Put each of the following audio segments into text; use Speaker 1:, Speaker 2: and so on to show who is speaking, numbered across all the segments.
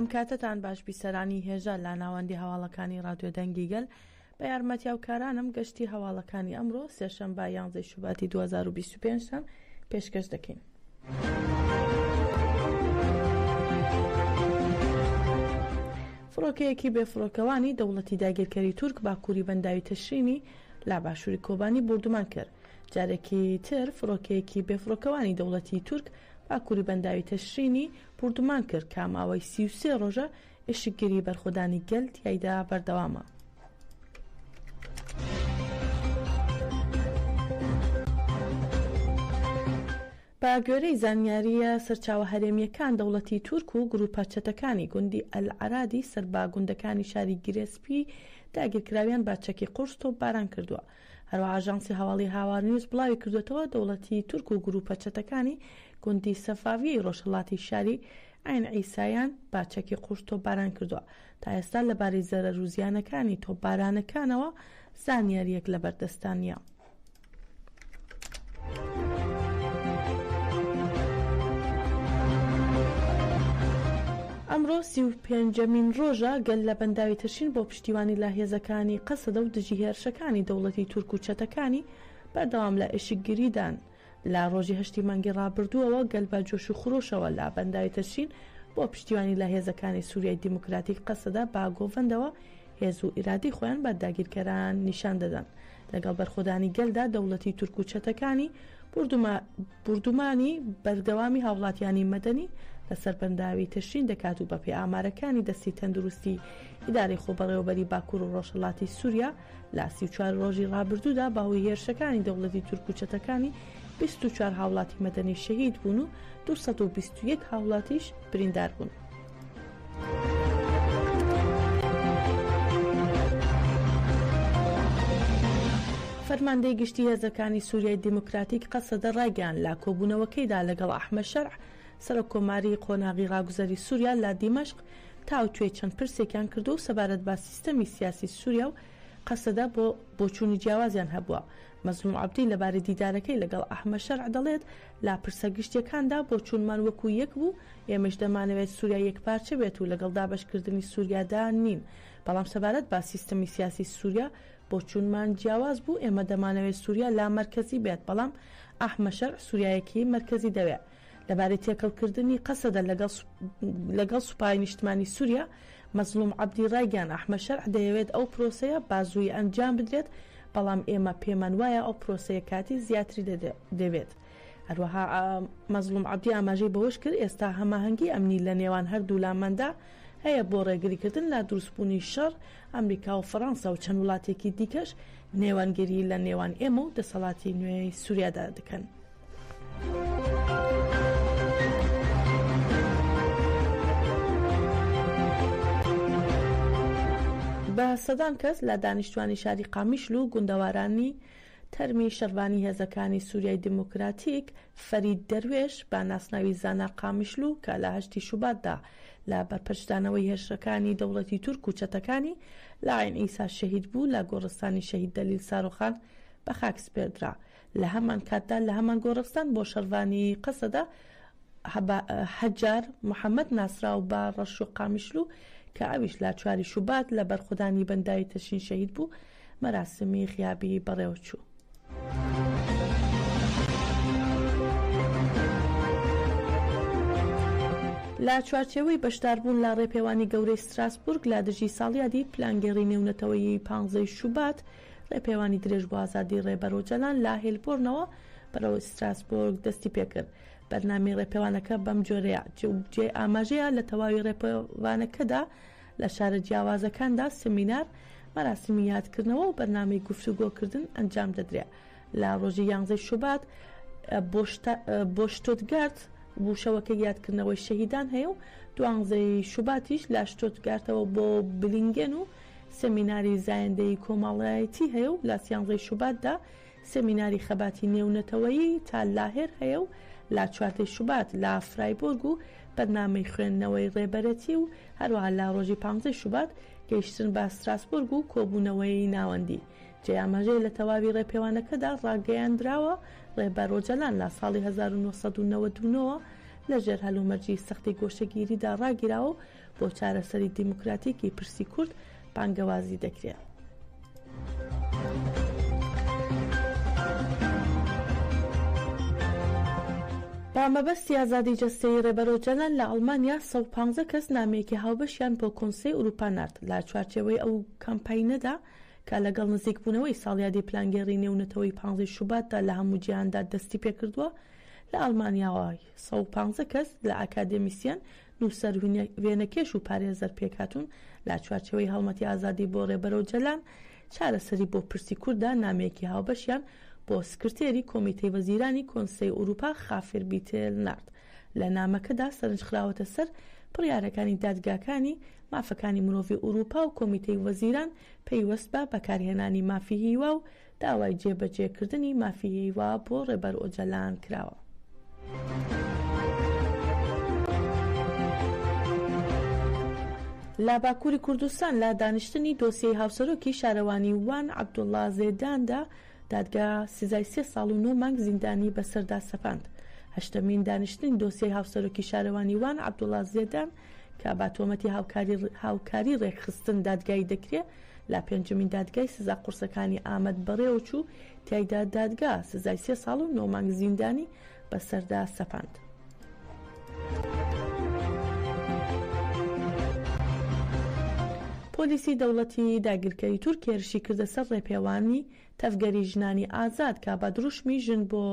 Speaker 1: ئەم کاتەتان باش بیسەرانی هێژا لە ناوەندی هەواڵەکانی رادیۆ دەنگی گەل بە یارمەتیاوکارانم گەشتی هەواڵەکانی ئەمڕۆ سێشەمبا یانزەی شوباتی 2025 تان پێشکەش دەکەین. فڕۆکەیەکی بێفڕۆکەوانی دەوڵەتی داگیرکەری تورک باکووری بەنداوی تەشرینی لە باشووری کۆبانی بردومان کرد جارێکی تر فڕۆکەیەکی بێفڕۆکەوانی دەوڵەتی تورک باکووری بەنداوی تەشرینی بردومان کرد کە ماوەی سی و سێ ڕۆژە ئیشکگری بەرخودانی گەل تیایدا بەردەوامە. بە گوێرەی زانیارییە سەرچاوە هەرێمییەکان دەوڵەتی تورک و گروپە چەتەکانی گوندی ئەلعەرادی سەر بە گوندەکانی شاری گرێسپی داگیرکراویان بە چەکی قورس تۆپباران کردووە هەروە ئاژانسی هەواڵی هاوار نیوز بڵاوی کردوێتەوە دەوڵەتی تورک و گروپە چەتەکانی گوندی سەفاویەی ڕۆژهەڵاتی شاری عەین عیسایان بە چەکی قووش تۆپباران کردووە، تا ئێستا لەبارەی زەرەر و زیانەکانی تۆپبارانەکانەوە زانیارییەک لەبەردەستدا نییە. ئەمڕۆ سی و پێنجەمین ڕۆژە گەل لە بەنداوی تەشین بۆ پشتیوانی لە هێزەکانی قەسەدە و دژی هێرشەکانی دەوڵەتی تورک و چەتەکانی بەردەوام لە ئێشکگریدان. لە ڕۆژی هەشتی مانگی ڕابردووەوە گەل بە جۆش و خرۆشەوە لە بەنداوی تەشرین بۆ پشتیوانی لە هێزەکانی سوریای دیموکراتیک قەسەدە بە گۆڤەندەوە هێز و ئیرادەی خۆیان بە داگیرکەران نیشان دەدەن لەگەڵ بەرخۆدانی گەلدا دەوڵەتی تورک و چەتەکانی بوردوما بوردومانی بەردەوامی هاوڵاتیانی مەدەنی لەسەر بەنداوی تەشرین دەکات و بەپێ ئامارەکانی دەستی تەندروستی ئیدارەی خۆبەڕێوەبەری باکوور و ڕۆژهەڵاتی سووریا لە سی و چوار ڕۆژی ڕابردوودا بە هۆی هێرشەکانی دەوڵەتی تورک و چەتەکانی بیست و چوار هاوڵاتی مەدەنی شەهید بوون و دوو سەد و بیست و یەک هاوڵاتیش بریندار بوون. فەرماندەی گشتی هێزەکانی سووریای دیموکراتیک قەسەدە ڕایگەیاند لە کۆبوونەوەکەیدا لەگەڵ ئەحمەد شەرع سەرۆک کۆماری قۆناغی ڕاگوزەری سووریا لە دیمەشق تاوتوێی چەند پرسێکیان کردووە و سەبارەت بە سیستەمی سیاسی سووریا و قەسەدە بۆ بۆچوونی جیاوازیان هەبووە. مەزڵوم عەبدی لەبارەی دیدارەکەی لەگەڵ ئەحمەد شەرع دەڵێت، لە پرسە گشتییەکاندا بۆچوونمان وەکو یەک بوو، ئێمەش دەمانەوێت سووریا یەکپارچە بێت و لەگەڵ دابەشکردنی سووریادا نین، بەڵام سەبارەت بە سیستەمی سیاسی سووریا بۆچوونمان جیاواز بوو، ئێمە دەمانەوێت سووریا لامەرکەزی بێت، بەڵام ئەحمەد شەرع سووریایەکی مەرکەزی دەوێت. لەبارەی تێکەڵکردنی قەسەدە لەگەڵ سوپای نیشتمانی سوریا، مەزڵوم عەبدی ڕایگەیاند، ئەحمەد شەرع دەیەوێت ئەو پرۆسەیە بازوویی ئەنجام بدرێت، بەڵام ئێمە پێمان وایە ئەو پرۆسەیە کاتی زیاتری دەوێت. هەروەها مەزڵوم عەبدی ئاماژەی بەوەشکرد، ئێستا هەماهەنگی ئەمنی لەنێوان هەردوولاماندا هەیە بۆ ڕێگریکردن لە دروستبوونی شەڕ، ئەمریکا و فەرەنسا و چەند وڵاتێکی دیکەش نێوەندگیری لەنێوان ئێمە و دەسەڵاتی نوێی سوریادا دەکەن. بە سەدان کەس لە دانیشتوانی شاری قامیشل و گوندەوارانی تەرمی شەڕڤانی هێزەکانی سوریای دیموکراتیک فەرید دەروێش بە ناسناوی زانا قامیشلو کە لە هەشتی شوباتدا لە بەرپەرچدانەوەی هێرشەکانی دەوڵەتی تورک و چەتەکانی لە عەین ئیسا شەهید بوو لە گۆڕستانی شەهید دەلیل سارۆخان بە خاک سپێردرا. لە هەمان کاتدا لە هەمان گۆڕستان بۆ شەڕڤانی قەسەدە حەجار محەمەد ناسراو بە ڕەش و قامیشلو کە ئەویش لە چواری شوبات لە بەرخودانی بەنداوی تەشین شەهید بوو مەراسمی غیابی بەڕێوەچوو. لە چوارچێوەی بەشداربوون لە ڕێپێوانی گەورەی ستراسبورگ لە دژی ساڵیادی پلانگێڕی نێونەتەوەیی پانزەی شوبات، ڕێپێوانی درێژ بۆ ئازادی ڕێبەر ئۆجالان لە هێلبۆرنەوە بەرەو ستراسبۆرگ دەستی پێکرد، بەرنامەی ڕێپێوانەکە بەم جۆرەیە، جێی ئاماژەیە لە تەواوی ڕێپێوانەکەدا لە شارە جیاوازەکاندا سمینار، مەراسیمی یادکردنەوە و بەرنامەی گفتوگۆکردن ئەنجام دەدرێ، لە ڕۆژی یانزەی شوبات بۆ شتۆتگارت بوو شەوەکەی یادکردنەوەی شەهیدان هەیە و دوانزەی شوباتیش لە شتۆتگارتەوە بۆ بلینگێن و سمیناری زایندەیی کۆمەاڵایەتی هەیە و لە سیانزەی شوباتدا سمیناری خەباتی نێونەتەوەیی تا لاهێر هەیە و لە چواردەی شوبات لە فرایبۆرگ و بەرنامەی خوێندنەوەی ڕێبەرەتی و هەروەها لە ڕۆژی پانزەی شوبات گەیشتن بە ستراسبۆرگ و کۆبوونەوەی ناوەندی جێی ئاماژەیە لە تەواوی ڕێپێوانەکەدا ڕاگەیاندراوە ڕێبەر ئۆجەلان لە ساڵی هەزار و نۆ سەد و نەوەد و نۆ وە لەژێر هەلومەرجی سەختی گۆشەگیریدا ڕاگیراوە و بۆ چارەسەری دیموکراتیکی پرسی کورد بانگەوازی دەکرێت. بە مەبەستی ئازادی جەستەیی ڕێبەر ئۆجەلان لە ئەڵمانیا سەد و پازدە کەس نامەیەکی هاوبەشیان بۆ کۆنسەی ئورووپا نارد لە چوارچێوەی ئەو کامپاینەدا کە لەگەڵ نزیکبوونەوەی ساڵیادی پلانگێڕی نێونەتەوەی پازدە ی شوباتدا لە هەموو جیهاندا دەستی پێکردووە لە ئەڵمانیاوە سەد و پازدە کەس لە ئاکادێمیسیەن نووسەر، وێنەکێش و پارێزەر پێکهاتوون لە چوارچێوەی هەڵمەتی ئازادی بۆ ڕێبەر ئۆجەلان، چارەسەری بۆ پرسی کوردە، نامەیەکی هاوبەشیان بۆ سکرتێری کۆمیتەی وەزیرانی کۆنسەی ئورووپا خافر بیتێل نارد، لە نامەکەدا سەرنج خراوەتە سەر بڕیارەکانی دادگاکانی مافەکانی مرۆڤی ئورووپا و کۆمیتەی وەزیران پەیوەست بە بەکارهێنانی مافی هیوا و داوای جێبەجێکردنی مافی هیوا بۆ ڕێبەر ئۆجەلان کراوە. لە باکووری کوردستان لە دانیشتنی دۆسیەی هاوسەرۆکی شارەوانی وان عەبدوڵڵا زێداندا دادگا سزای سێ ساڵ و نۆ مانگ زیندانی بەسەردا سەپاند. هەشتەمین دانیشتنی دۆسیەی هاوسەرۆکی شارەوانی وان عەبدوڵڵا زێدان کە بە تۆمەتی هاوکاری رێکخستن دادگایی دەکرێ، لە پێنجەمین دادگای سزا قورسەکانی ئامەد بەڕێوەچوو، تیایدا دادگا سزای سێ ساڵ و نۆ مانگ زیندانی بەسەردا سەپاند. پۆلیسی دەوڵەتی داگیرکەری تورک هێرشی کردە سەر ڕێپێوانی تەڤگەری ژنانی ئازاد کە بە دروشمی ژن بۆ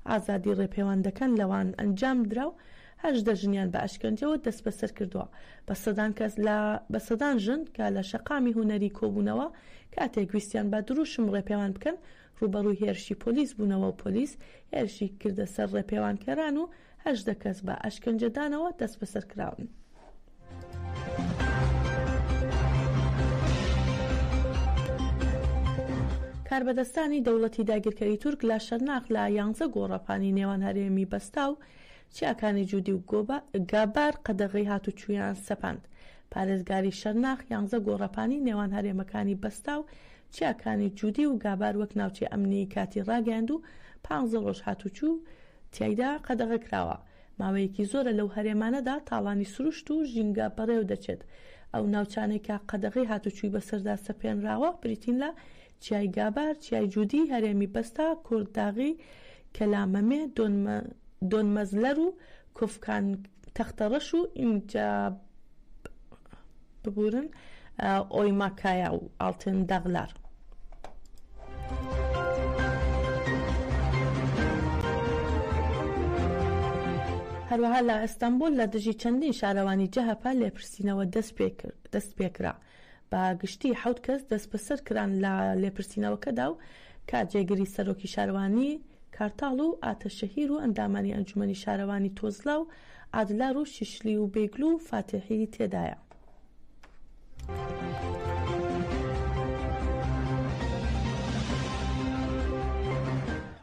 Speaker 1: ئازادی ڕێپێوان دەکەن لەوان ئەنجامدرا و هەژدە ژنیان بە ئەشکەنجەوە دەستبەسەر کردووە. بە سەدان کەس لە بە سەدان ژن کە لە شەقامی هونەری کۆبوونەوە کاتێک ویستیان بە دروشم ڕێپێوان بکەن ڕووبەڕووی هێرشی پۆلیس بوونەوە و پۆلیس هێرشی کردە سەر ڕێپێوانکەران و هەژدە کەس بە ئەشکەنجەدانەوە دەستبەسەرکراون. کاربەدەستانی دەوڵەتی داگیرکەری تورک لە شەرناخ لە یانزە گۆڕەپانی نێوان هەرێمی بەستا و چیاکانی جودی و گابار قەدەغەی هاتوچویان سەپاند پارێزگاری شەرناخ یانزە گۆڕەپانی نێوان هەرێمەکانی بەستا و چیاکانی جودی و گابار وەک ناوچەی ئەمنی کاتی ڕاگەیاند و پانزە ڕۆژ هاتوچوو تیایدا قەدەغەکراوە، ماوەیەکی زۆرە لەو هەرێمانەدا تاڵانی سروشت و ژینگە بەڕێوە دەچێت، ئەو ناوچانەی کە قەدەغەی هاتوچوی بەسەردا سەپێنراوە بریتین لە، چیای گابار، چیای جودی، هەرێمی بەستا، کورد داغی، کەلا مەمێ، دۆن مەزلەر و کۆفکان تەختەڕەش و ئینجا. ببورن ئۆیما کایا و ئاڵتن داغلار. هەروەها لە ئەستەنبوڵ لە دژی چەندین شارەوانی جەهەپە لێپرسینەوە دەستپێکرا، بە گشتی حەوت کەس دەستبەسەر کران لە لێپرسینەوەکەدا و کە جێگری سەرۆکی شارەوانی کارتاڵ و ئاتەشەهیر و ئەندامانی ئەنجومەنی شارەوانی تۆزلا و ئادلار و شیشلی و بێگلو و فاتیحی تێدایە.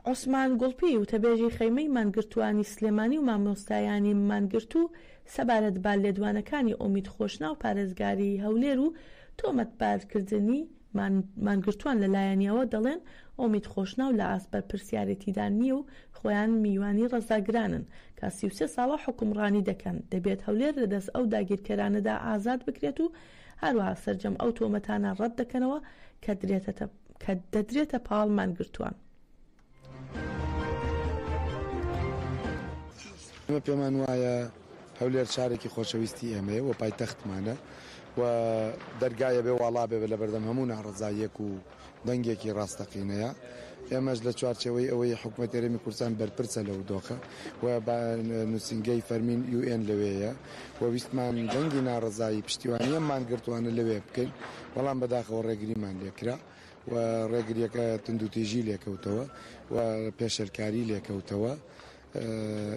Speaker 1: عوسمان گوڵپی، وتەبێژی خەیمەی مانگرتووانی سلێمانی و مامۆستایانی مانگرتوو سەبارەت بە لێدوانەکانی ئۆمید خۆشناو پارێزگاری هەولێر و تۆمەتبارکردنی مانگرتووان لە لایەنیەوە دەڵێن ئۆمید خۆشناو لە ئاست بەرپرسیارێتیدا نییە و خۆیان میوانی ڕەزاگرانن کە سی و سێ ساڵە حوکمڕانی دەکەن، دەبێت هەولێر لە دەست ئەو داگیرکەرانەدا ئازاد بکرێت و هەروەها سەرجەم ئەو تۆمەتانە ڕەت دەکەنەوە کە دەدرێتە پاڵ مانگرتووان.
Speaker 2: ئێمە پێمان وایە هەولێر شارێکی خۆشەویستی ئێمەیە و پایتەختمانە و دەرگایە بێ واڵا بێ لە بەردەم هەموو ناڕزاییەک و دەنگێکی ڕاستەقینەیە ئێمەش لە چوارچەوەی ئەوەی حکوومەت ئێرەمی کوردستان بەرپرسە لە ودۆخە و نووسنگەی فەرمین یوئێن لەوەیە و ویستمان دەنگی ناڕزایی پشتیوانیەممان گرتوانە لەوێ بکەین بەڵام بەداخەوە ڕێگریمان لێکرا و ڕێگریەکە توندوتیژی لێکەوتەوە و پێشێلکاری لێکەوتەوە.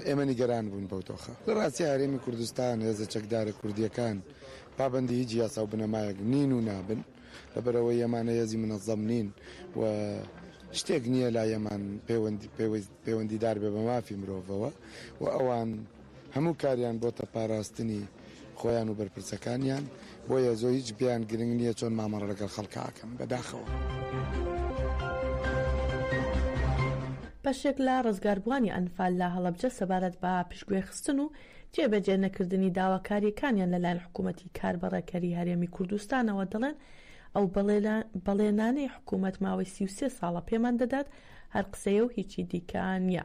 Speaker 2: ئێمە نیگەران بوون بەو دۆخە لە ڕاستی هەرێمی کوردستان هێزە چەکدارە کوردیەکان پابندی هیچ یاسا و بنەمایەک نین و نابن لەبەرەوەی ئەمانە هێزی منەزەم نین و شتێک نییە لا یەمان پەیوەندیدار بێ بە مافی مرۆڤەوە و ئەوان هەموو کاریان بۆتە پاراستنی خۆیان و بەرپرسەکانیان بۆیە زۆ هیچ پێیان گرنگ نیە چۆن مامەڵە لەگەڵ خەڵکا ئەکەن بەداخەوە.
Speaker 1: بەشێک لە ڕزگاربووانی ئەنفال لە هەڵەبجە سەبارەت بە پشتگوێخستن و جێبەجێ نەکردنی داواکارییەکانیان لەلایەن حکوومەتی کاربەڕێکەری هەرێمی کوردستانەوە دەڵێن، ئەو بەڵێنانەی حکوومەت ماوەی سی و سێ ساڵە پێمان دەدات هەر قسەیە و هیچی دیکە نییە،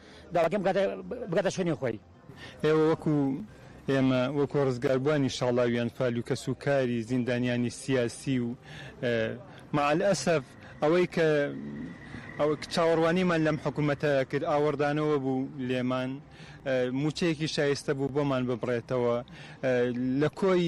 Speaker 3: داواکەم بکاتە بگاتە شوێنی خۆی. ئێوە وەکو
Speaker 4: ئێمە وەکو ڕزگاربوانی شاڵاویان فال و کەس و کاری زیندانیانی سیاسی و مع الاسف ئەوەی کە چاوەڕوانیمان لەم حکومەتە کرد ئاوەڕدانەوە بوو لێمان موچەیەکی شایستە بوو بۆمان ببڕێتەوە لە کۆی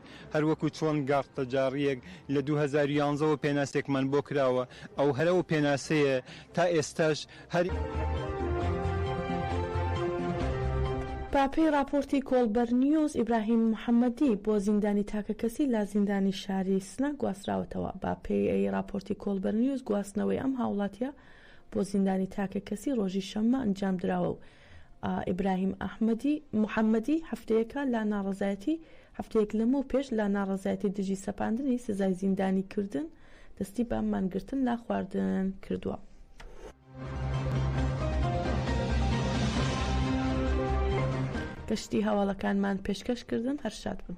Speaker 4: هەر وەکو چۆن گاڕتە جاڕییەک لە دوو هەزار و یانزە وە پێناسێکمان بۆ کراوە، ئەو هەر ئەو پێناسەیە تا ئێستاش هەر.
Speaker 1: بە پێی ڕاپۆرتی کۆڵبەر نیوز، ئیبراهیم محەمەدی بۆ زیندانی تاکەکەسی لە زیندانی شاری سنە گواستراوەتەوە. بە پێ ی ڕاپۆرتی کۆڵبەر نیوز گواستنەوەی ئەم هاوڵاتییە بۆ زیندانی تاکەکەسی ڕۆژی شەممە ئەنجام دراوە و ئیبراهیم ئەحمەدی محەمەدی هەفتەیەکە لە ناڕەزایەتی هەفتەیەک لەمەو پێش لە ناڕەزایەتی دژی سەپاندنی سزای زیندانی کردن دەستی بە مانگرتن لە خواردن کردووە. گەشتی هەواڵەکانمان پێشکەش کردن هەر شاد بن.